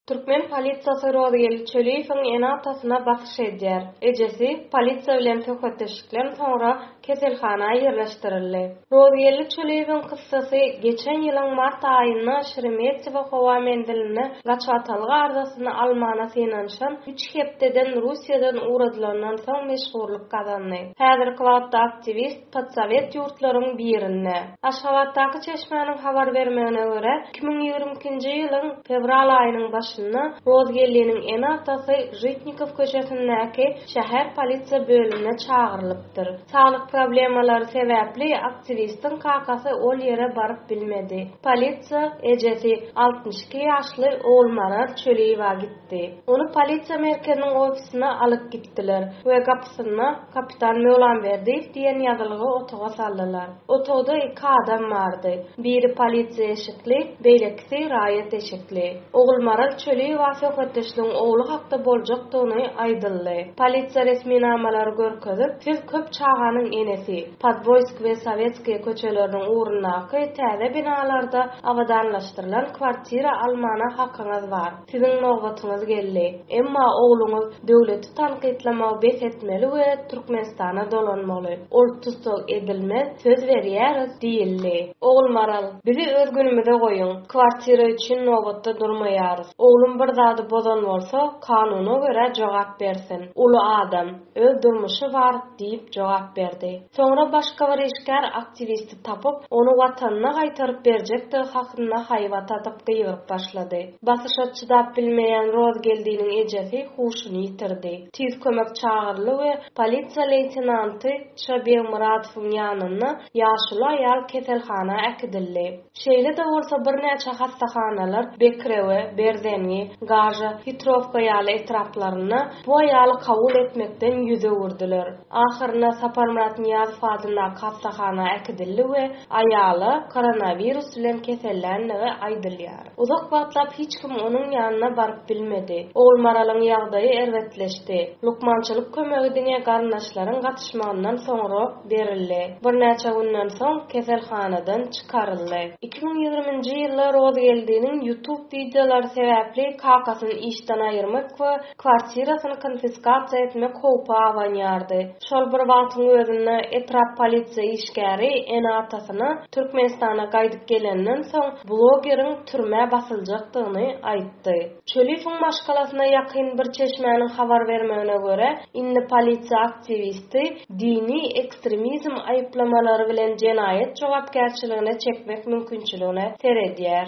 Türkmen polisiýasy Rozgeldi Çöliýewiň ene-atasyna basyş edýär. Ejesi polisiýa bilen söhbetdeşlikden soňra keselhana ýerleşdirildi. Rozgeldi Çöliýewiň kyssasy geçen ýylyň mart aýynda Şeremetýewo howa menzilinde gaçybatalga arzasyny almana synanyşan üç hepdeden Russiýadan ugradylandan soň meşhurlyk gazandy. Häzirki wagtda aktiwist, Podsowet ýurtlaryň birinde. Aşgabatdaky çeşmäniň habar bermegine görä, iki müň ýigrimi ikinji ýylyň fewral aýynyň başynda Rozgelliniň ene-atasy Žitnikow köçesindäki şäher polisiýa bölümine çagyrylypdyr. Saglyk problemalary sebäpli aktiwistiň kakasy ol ýere baryp bilmedi. Polisiýa ejesi, altmyş iki ýaşly Ogulmaral Çöliýewa gitdi. ýetdi. Ony polisiýa merkeziniň ofisine alyp gitdiler we gapysynda Kapitan Möwlamberdiýew diýen ýazylgy otaga saldylar. Otagda iki adam bardy. Biri polisiýa eşikli, beýlekisi raýat eşikli. Ogulmaral Çöliýewa söhbetdeşligiň ogly hakda boljakdygyny aýdyldy. Polisiýa resminamalary görkezip, Siz köp çaganyň enesi. Podwoýsk we Sowetskiý köçeleriniň ugrundaky täze binalarda abadanlaşdyrylan kwartira almana hakyňyz bar. Siziň nobatyňyz geldi. Emma ogluňyz döwleti tankytlamagy bes etmeli we Türkmenistana dolanmaly. Ol tussag edilmez, söz berýäris diýildi. Ogulmaral, bizi öz günümize goýuň, kwartira üçin nobatda durmaýarys. Oglum bir zady bozan bolsa, kanuna görä jogap bersin. Uly adam, öz durmuşy bar, diýip jogap berdi. Soňra başga bir işgär aktiwisti tapyp, ony watanyna gaýtaryp berjekdigi hakynda haýbat atyp gygyryp başlady. Basyşa çydap bilmeýän Rozgeldiniň ejesi huşuny ýitirdi. Tiz kömek çagyryldy we polisiýa leýtenanty Ç. Begmyradowyň ýanynda ýaşuly aýal keselhana äkidildi. Şeýle-de bolsa birnäçe hassahanalar Bekrewe, Berzengi, Gaža, Hitrowka ýaly etraplarynda bu aýaly kabul etmekden ýüz öwürdiler. Ahyrynda Saparmyrat Nyýazow adyndaky hassahana äkidildi we aýala koronawirus bilen keselländigi aýdylýar. Uzak wagtlap hiç kim onuň ýanyna baryp bilmedi. Ogulmaralyň ýagdaýy erbetleşdi. Lukmançylyk kömegi diňe garyndaşlaryň gatyşmagyndan soňra, berildi. Birnäçe günden soň keselhanadan çykaryldy. Iki müň ýigrimi nji ýylda Rozgeldiniň YouTube wideolary sebäpli kakasyny işden aýyrmak we kwartirasyny konfiskasiýa etmek howpy abanýardy. Şol bir wagtyň özünde etrap polisiýa işgäri ene-atasyna Türkmenistana gaýdyp gelenden soň blogeriň türmä basyljakdygyny aýtdy. Çöliýewiň maşgalasyna ýakyn bir çeşmäniň habar bermegine görä, indi polisiýa aktiwisti dini ekstremizm aýyplamalary bilen jenaýat jogapkärçiligine çekmek mümkinçiligine seredýär.